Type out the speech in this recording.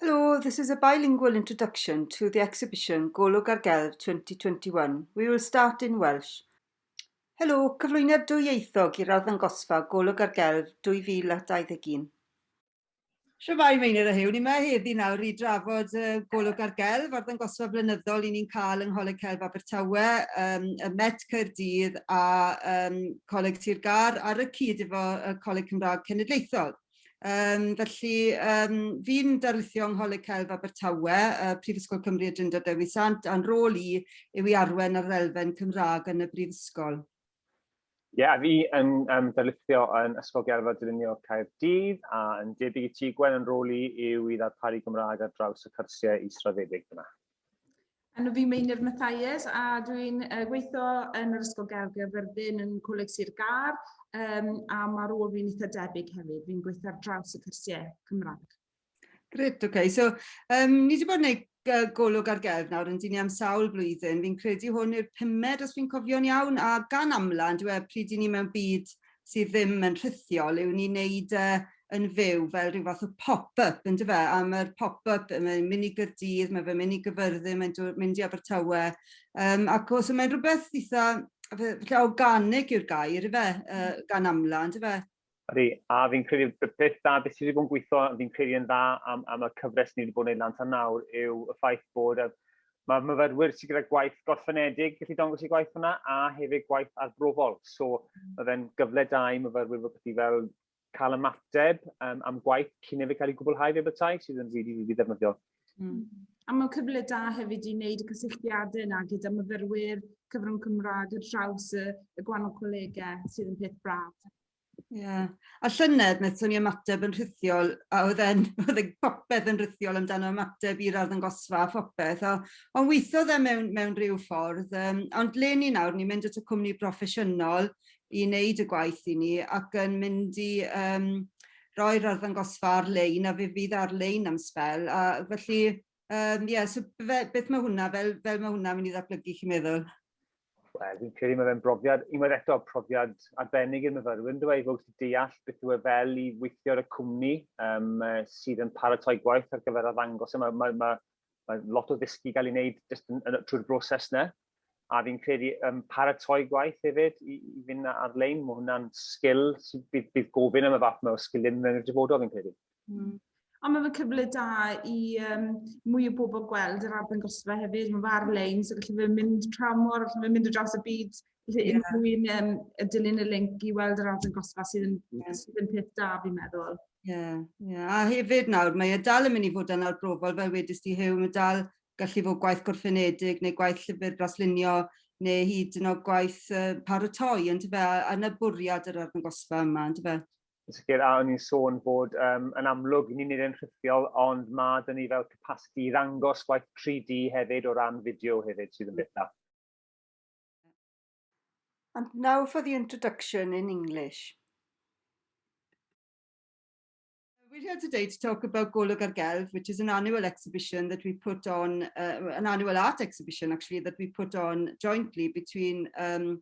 Hello, this is a bilingual introduction to the exhibition Golwg ar Gelf 2021. We will start in Welsh. Helo, cyflwyniad dwyieithog i'r arddangosfa Golwg ar Gelf 2021. Siamai Meinir a Hewn, ni mae heddi nawr i drafod uh, Golwg ar Gelf, arddangosfa flynyddol i ni'n cael yng Ngholeg Celf Abertawe, um, y Met Caerdydd a um, Coleg Sir Gar ar y cyd efo y Coleg Cymraeg Cenedlaethol. Yym felly yym fi'n darlithio yng Ngholeg Celf Abertawe yy Prifysgol Cymru y Drindod Dewi Sant a'n rôl i yw i arwen ar yr elfen Cymra'g yn y brifysgol. Ie a fi yn yym darlithio yn Ysgol Gerdded Dylunio Caerdydd a yn debyg i ti Gwen yn rôl i yw i ddarparu Gymra'g ar draws y cyrsie israddedig fyn 'na. Enw fi Meinir Mathias a dwi'n uh, gweithio yn yr Ysgol Gael Gaerfyrddin yn Coleg Sir Gar um, a mae rôl fi'n eitha debyg hefyd. Fi'n gweithio ar draws y cyrsiau Cymraeg. Gret, oce. Okay. So, um, ni wedi bod yn gwneud golwg ar gelf nawr yn dyn ni am sawl blwyddyn. Fi'n credu hwn i'r pumed, os fi'n cofio'n iawn, a gan amla, yn dweud, pryd i ni mewn byd sydd ddim yn rhithiol yw ni'n neud e yn fyw fel ryw fath o pop up on'd yfe? A ma'r pop up yy mae'n myn' i Gyrdydd ma' fe'n myn' i Gyfyrddin mae'n do- mynd i Abertawe yym ac o so mae'n rwbeth itha yy fe- lle organig yw'r gair yfe? Yy gan amla on'd yfe? Ydi, a fi'n credu b- beth da beth sy 'di bod yn gweitho fi'n credu yn dda am am y cyfres ni 'di bod yn neud lan tan nawr yw y ffaith bod y Mae myfyrwyr sydd gyda gwaith gorffenedig yn gallu dangos eu gwaith hwnna, a hefyd gwaith arbrofol. So, mae fe'n gyfle da i myfyrwyr fod wedi fel cael ymateb um, am gwaith cyn ei cael ei gwblhau fe bethau, sydd yn rili, rili ddefnyddiol. Mm. A mae'n cyfle da hefyd i wneud y cysylltiadau yna gyda myfyrwyr cyfrwng Cymraeg ar draws y, y gwahanol colegau sydd yn peth braf. Ie. A llynedd nethon ni ymateb yn rhithiol a odd e'n odd e popeth yn rithiol amdano ymateb i'r arddangosfa a phopeth a on' withodd e mewn mewn ryw ffordd yym ond 'le ni nawr ni'n mynd at y cwmni broffesiynol i neud y gwaith i ni ac yn mynd i yym roi'r arddangosfa ar-lein a fe fydd ar-lein am sbel a felly Yym ie so fe- beth ma' hwnna fel fel ma' hwnna myn' i ddatblygu chi'n meddwl? Wel fi'n credu ma' fe'n brofiad unwaith eto profiad arbennig i'r myfyrwyr yndyw e i fod gallu deall beth yw e fel i weithio ar y cwmni yym yy sydd yn paratoi gwaith ar gyfer arddangos e ma' ma' ma' ma' lot o ddysgu ga'l ei wneud jyst yn yn trwy'r broses 'na a fi'n credu yym paratoi gwaith hefyd i i fynd ar-lein ma' hwnna'n sgil sydd bydd bydd gofyn am y fath 'ma o sgilie mewn i'r dyfodol fi'n credu. Mm. Ond mae'n cyfle da i um, mwy o bobl gweld yr arddangosfa hefyd. Mae'n ar-lein, so gallu fe mynd tra mor, gallu fe mynd o draws y byd. Felly yeah. unrhyw un um, y dilyn y link i weld yr arddangosfa sydd yn, yeah. sydd yn peth da fi'n meddwl. Ie, yeah, yeah. a hefyd nawr, mae e dal yn mynd i fod yn arbrofol, fel wedys ti Huw, mae dal gallu fod gwaith gwrthfynedig neu gwaith llyfr braslunio neu hyd yn oed gwaith uh, paratoi, yn tyfe, a, a na bwriad yr arddangosfa yma, yn tyfe? yn sicr, a o'n i'n sôn bod um, yn amlwg ni'n nid yn rhithiol, ond mae dyn ni fel capacity i ddangos gwaith 3D hefyd o ran fideo hefyd sydd yn bethau. And now for the introduction in English. We're here today to talk about Golwg ar Gelf, which is an annual exhibition that we put on, uh, an annual art exhibition actually, that we put on jointly between um,